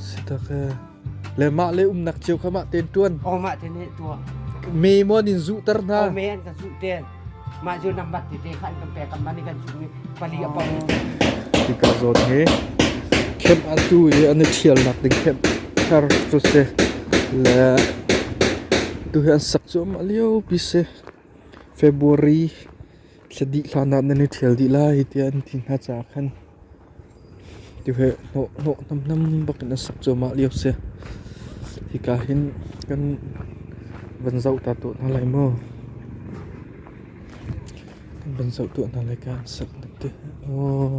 Sitak e. Le mah le umnak cio kha mah tein tuan. O mah te ne tua. Me mo in zuhter hna. O me an kan su ten. Mah ju nambat te te khan kan pe kan mani kan su mi pali apang. Tika zon he. Camp atu i an i thial nak ding camp thar chu se. Le tu he an sak chu ma liu pi se. February Thla dih hlan ah nan i ṭhial dih lai tiah an ti hna caah khan tihue hnawh hnawh hnamhnam bakin a sak cuahmah lio a si. Hika hin kan van zoh ta tuah hna lai maw? Kan van zoh tuah hna lai ka an sak na ti. Aw.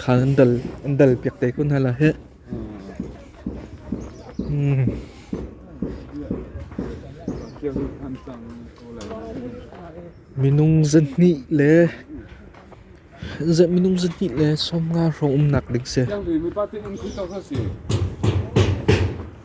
Kha an dal piak te kun hala heh. Minung zahnih le minung zahnih le sawmnga hrawng umnak ding si.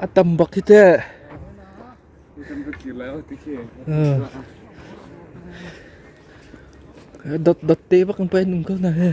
A tam bak hi teh. Dot dot te bak ang pa nung ko na he.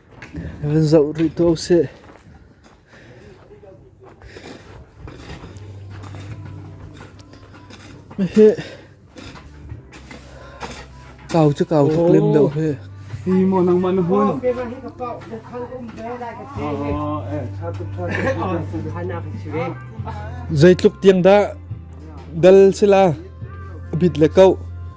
Van zoh rih tuah usih. Hihi kau cu kau tuk lem deuh hi. Hi maw nangmah na hun. Zeitluk tiang dah dal sila a bit le kau.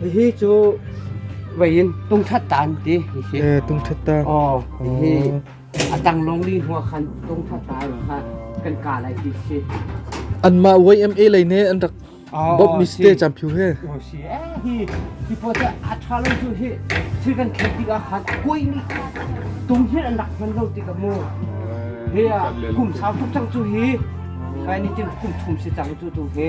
Hihi cu vei in tungthat ta an ti. Hihi. Eh, tungthat ta. Oh, hihi a tang long li hnuah khan tungthat ta ai kha kan ka lai ti si. Anmah YMA lei ne an rak Bob mi ste cham phiu he. Oh si eh hi hi po ta a tha lo cu hi thil kan khet tik ah khan koi ni tung hi an rak hman lo ti ka mu. He a kum sau tuk chang cu hi kai ni tin kum thum si chang cu tu he.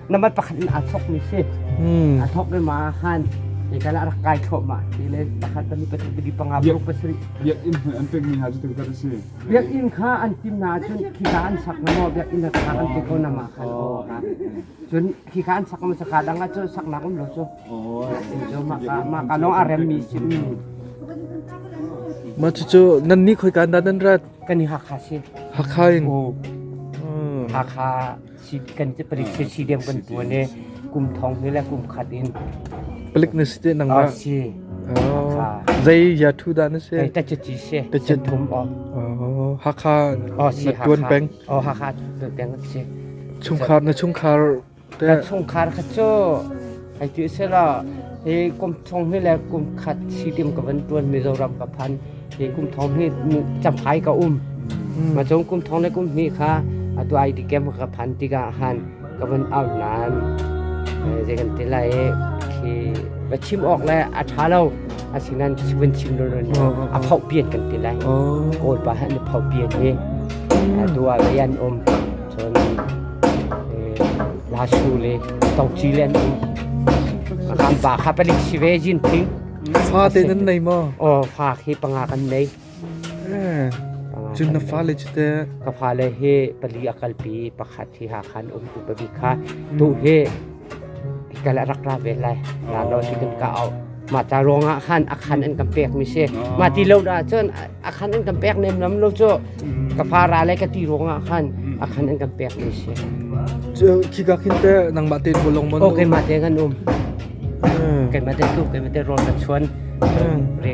na mat pakhat in aa thawkmi si aa thawk i ma han i kala rak kai thlawh ma ti le pakhat tami pasarih tami panga blok pasarih biakinn hmuh an pekmi hna cu tuk a si biakinn kha an tim na cun khika an sak na maw biakinn kha an pe ko na ma khan aw ka cun khika an sak ma saka dang cu saknak um lo cu jo ma ka ma ka long a rem mi sim ma chu chu nan ni khoi kan da nan rat kan ni ha kha si hakha in hakha kan palik si diam kan tuan i kum thong ni le kum khat in palik na si te nangma zai ya thu da na se ta chi chi se ta chi thum o hakha tuan bank o hakha tuan bank se chung khar na chung khar te na chung khar kha cho Hai ti sela, hi kum thong hi le kum khat si tiam ka van tuan Mizoram ka phan. Hi kum thong hi chamhai ka um. Ma cung kum thong le kum hnih kha atu IT camp ka phan tika han ka van au nan. Zei kan ti lai khi va chim ok le a tha lo asinan van chim lo lo a phau pian kan ti lai. Kawl pa han phau pian hi atu a rian um Cun La Su le Tawngci le an um. Kan pa kha palik si ve Jin Phing. Fa te nan nei maw? Oh, fa khi panga kan nei. Eh, Cun na fa le cu te Ka fa le hi pali akal pi pakhat hi ha khan um u pabi kha. Tu hi Kan a rak ra ve lai. Lalo si kan ka au. Mah ca ruangah khan a khan an kan pek mi si. Mah ti lo dah cun a khan an kan pek nem lam lo cu ka fa ra lai ka ti ruangah khan a khan an kan pek mi si. khi ka khin te nangmah te bo long mon. O ke mah te kan um. Kan mah te tu kan mah te rol ka chuan. Re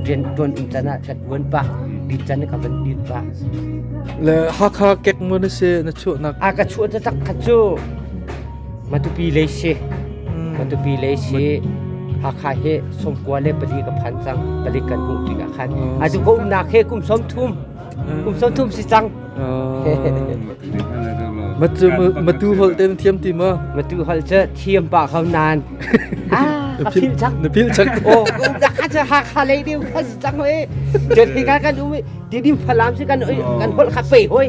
rian tuan um can ah ka tuan pa. Dit can ka van dit pa. Le ha kha kek mon se na chu nak. A ka chu ta tak kha chu. Matupi lei si. Matupi lei si. Hakha he sawmkua le pali ka phan cang. Palik kan hmuh tik ah khan. Atu ka umnak he kum sawm thum. Kum sawm thum si cang. Matu holh ten thiam ti ma? Matu holh cu thiam pa kho nan. Ah, ka phil cang. Na phil cak. Oh, umnak kha cu Hakha lei deu kha si cang oi. Jadi kan kan um. Di dim falam si kan kan holh kha pe hoi.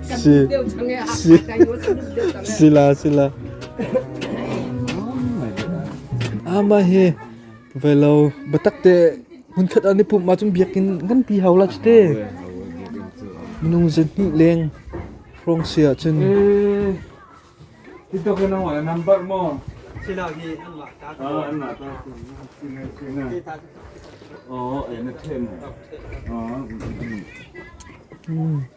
si sila sila ama he velo batakte hunkhat an pum ma chun biakin kan pi hau la chite minung zin ni leng rong sia chun Ito ka nang wala number mo. Sila hi an ma ta. Ah an ma ta. Kita. Oh, eh na them. Oh.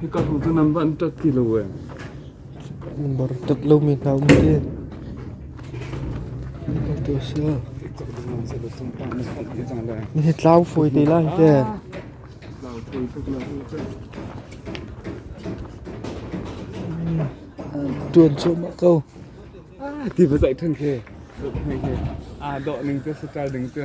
Hika hnu cu nan van tat ti lo e. Tat lomi hna um te. Hika tu sa. Nihi tlau foi te lai te. Tuan cho ma ko. Ti ba zai than ke. Ah do ning tu sa ding tu.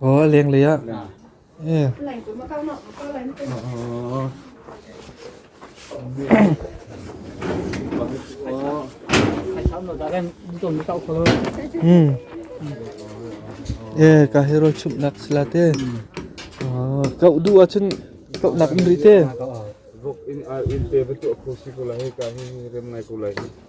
Aw lenglei ah. Eh. Hmm. Eh ka hero chum nak sila te. Ah kau du acun kau nak in rite. Vok in ar in te betu aku si kula he ka hi rem nai kulai.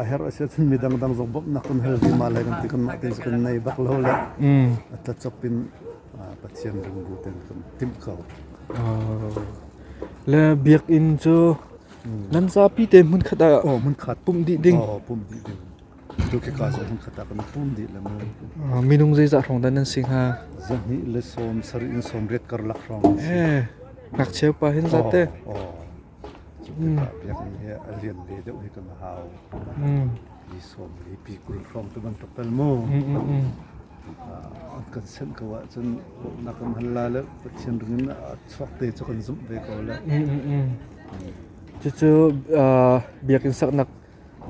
a herh a si ahcun mi dangdang zong bawmhnak kan hal ti ma lai kan ti kanmah te kan nei bak lo le a tlatsok in Pathian lungbu ten kan timh ko le biakinn cu nan zapi te hmun khat ah oh hmun khat pumh dih ding oh pumh dih ding tu ke ka so hmun khat ah kan pum dih le mu minung zeizah hrong dan nan si hnga zahni le som sari in som riat kar lak hrong eh ngakcheu pa hin zate oh Cu tikah biakinn he a lian ve deuh hi kan hau. Ni sawm le pi kul hrawng tu bantuk tal mu. Kan senh ko ahcun na kan hal la le Pathian ring in a chuak te cu kan zumh ve ko le. Cucu biakinn saknak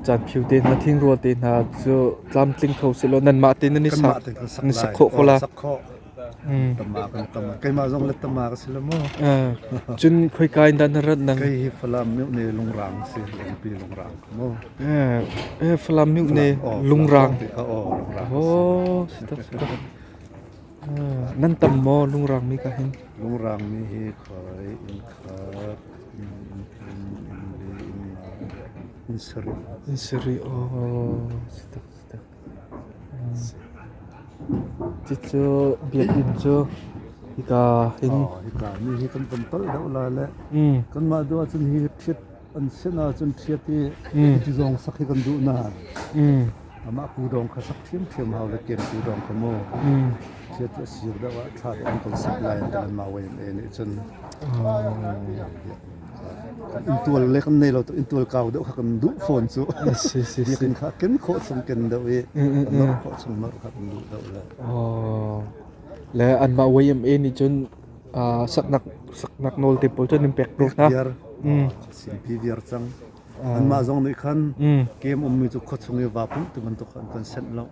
Caanphio te hna, thingrual te hna cu tlamtling kho sehlaw nanmah te nan i sak nan sak khawh ko la. Tama kan tama keimah zong le tama ka si la mu. Cun khoika in dah na rat nang? Kei hi Falam meuh ne lungrang si lengpi lungrang mu. Falam meuh ne lungrang. Oh, si tak si tak. Nan tam maw lungrangmi ka hin? Lungrangmi hi khoi in khat, in in, in le in la, in sarih. In sarih, aw, si tak, si tak. Cucu biakinn cu hika hin. Oh, hika ni hi kan tam tal deuh lai le. Kanmah duh ahcun hi thit an sin ahcun ṭhiat i ti zong sak hi kan duh na amah pu dawng kha sak ṭhiamṭhiam hau le kem pu dawng kha mu ṭhiat cu a sir deuh ah ṭha tein kan sak lai an tilan ma wai ne nih cun intual le kan nei lo to intual kau deuh kha kan duh fawn cu biakin kha ken khawh chung ken deuh i nor khawh chung nor kha kan duh deuh le le an mah wai ma nih cun uh, saknak saknak nawl te pawl cun in pek ko hna. Viar, mm. Sinpi viar cang. Uh. Anmah zong nih khan mm. kem ummi cu khuachung i va pum tu bantuk an kan senh lo.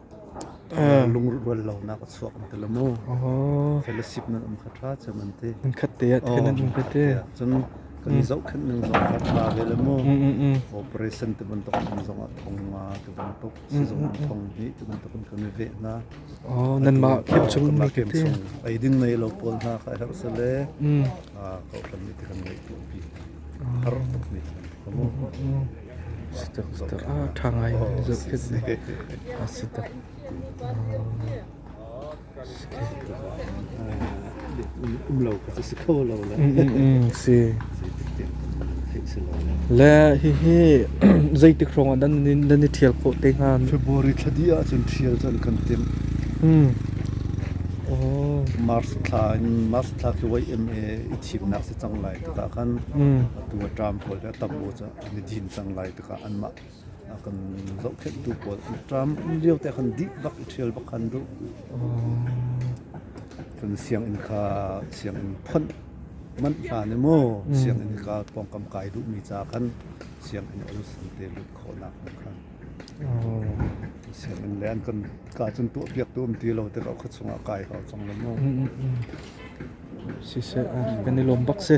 Uh. Lungrual lo nak chuak an tala mu. Fellowship nan um kha tra cham an te. An khat te at khan an um kha te. Cun kan i zohkhenh ning zong kan pa ve le mu. Operation te bantuk kan zong a thong nga te bantuk. sizung ah thong dih ti bantuk in kan i veh hna. Oh, nanmah khim chung mi ke te. Eidin nei lo pawl hna ka herh se le a kohlan mi te kan ngei tu pi. Har mi komo. Sitak zitak a thangai zat khit ni. A sitak. um lo ka si kho lo le le hihi zeitik hrawng ah dan dan i thial khawh te hnga February thla di ah cun thial cun kan tim hmm Mars thla in Mars thla khi wai MA i thimnak si cang lai takah kan tu tam pawl ka tam mo cha ni din cang lai takah anmah a kan zohkhenhtu pawl an ṭam lio te khan dih bak i ṭhial bak khan duh kan sianginn kha sianginn phawnh manh hlan i maw sianginn kha pawngkam kai duhmi ca khan sianginn olsen te lut khawhnak hnga khan sianginn le an kan ka cun tuahpiaktu um ti lo te ka khat chungah kai hau cang lo mu siseh kan i lawm bak si